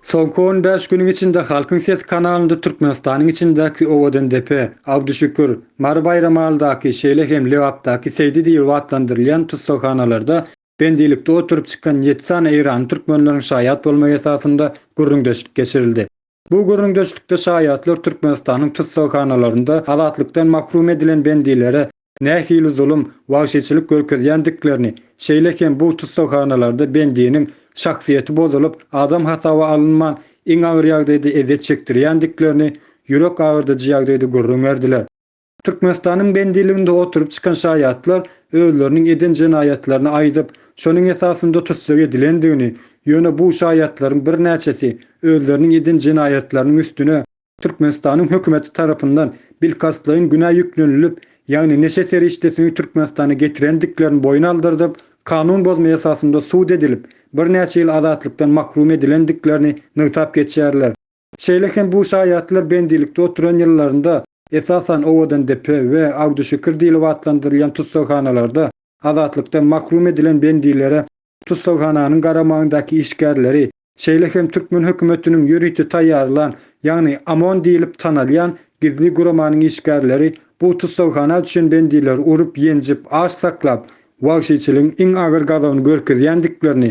Soňky on bäş günüň içinde Halkyň sesi kanalynda Türkmenistanyň içindäki Owadandepe, Abduşükür, Mary Baýramaldaky, şeýle hem Lebapdaky Seýdi diýlip atlandyrylýan tussaghanalarda Pendilikde oturyp çykan ýedi sany eýranly türkmenleriň şaýat bolmagy esasynda gürrüňdeşlik geçirildi. Bu gürrüňdeşlikde şaýatlar Türkmenistanyň tussaghanalaryynda azatlykdan mahrum edilen bendilere nähili zulum, wagşyçylyk görkezýändiklerini, şeýle hem bu tussaghanalarda bendiniň şahsyýeti bozulyp, adam hasaba alynman, iň agyr ýagdaýda ezýet çekdirýändiklerini, ýürek agyrdyjy ýagdaýda gürrüň berdiler. Türkmenistanyň bendiliginde oturyp çykan şaýatlar özleriniň eden jenaýatlaryny aýdyp, şonuň esasynda tussag edilendigini, ýöne bu şaýatlaryň birnäçesi özleriniň eden jenaýatlarynyň üstüne Türkmenistanyň hökümeti tarapyndan bilkastlaýyn günä ýüklenilip, ýagny neşe serişdesini Türkmenistana getirendiklerini boýun aldyrdyp, kanun bozma esasynda sud edilip, birnäçe ýyl azatlykdan mahrum edilendiklerini nygtap geçýärler. Şeýle hem bu şaýatlar bendilikde oturan ýyllarynda, esasan, Owadandepe we Agdüşükür diýlip atlandyrylýan tussaghanalarda azatlykdan mahrum edilen bendilere tussaghananyň garamagyndaky işgärleri, şeýle hem türkmen hökümetiniň ýörite taýýarlan, ýagny OMON diýlip tanalýan gizli guramanyň işgärleri bu tussaghana düşen bendileri urup-ýenjip, aç saklap, wagşyçylygyň iň agyr gazabyny görkezýändiklerini,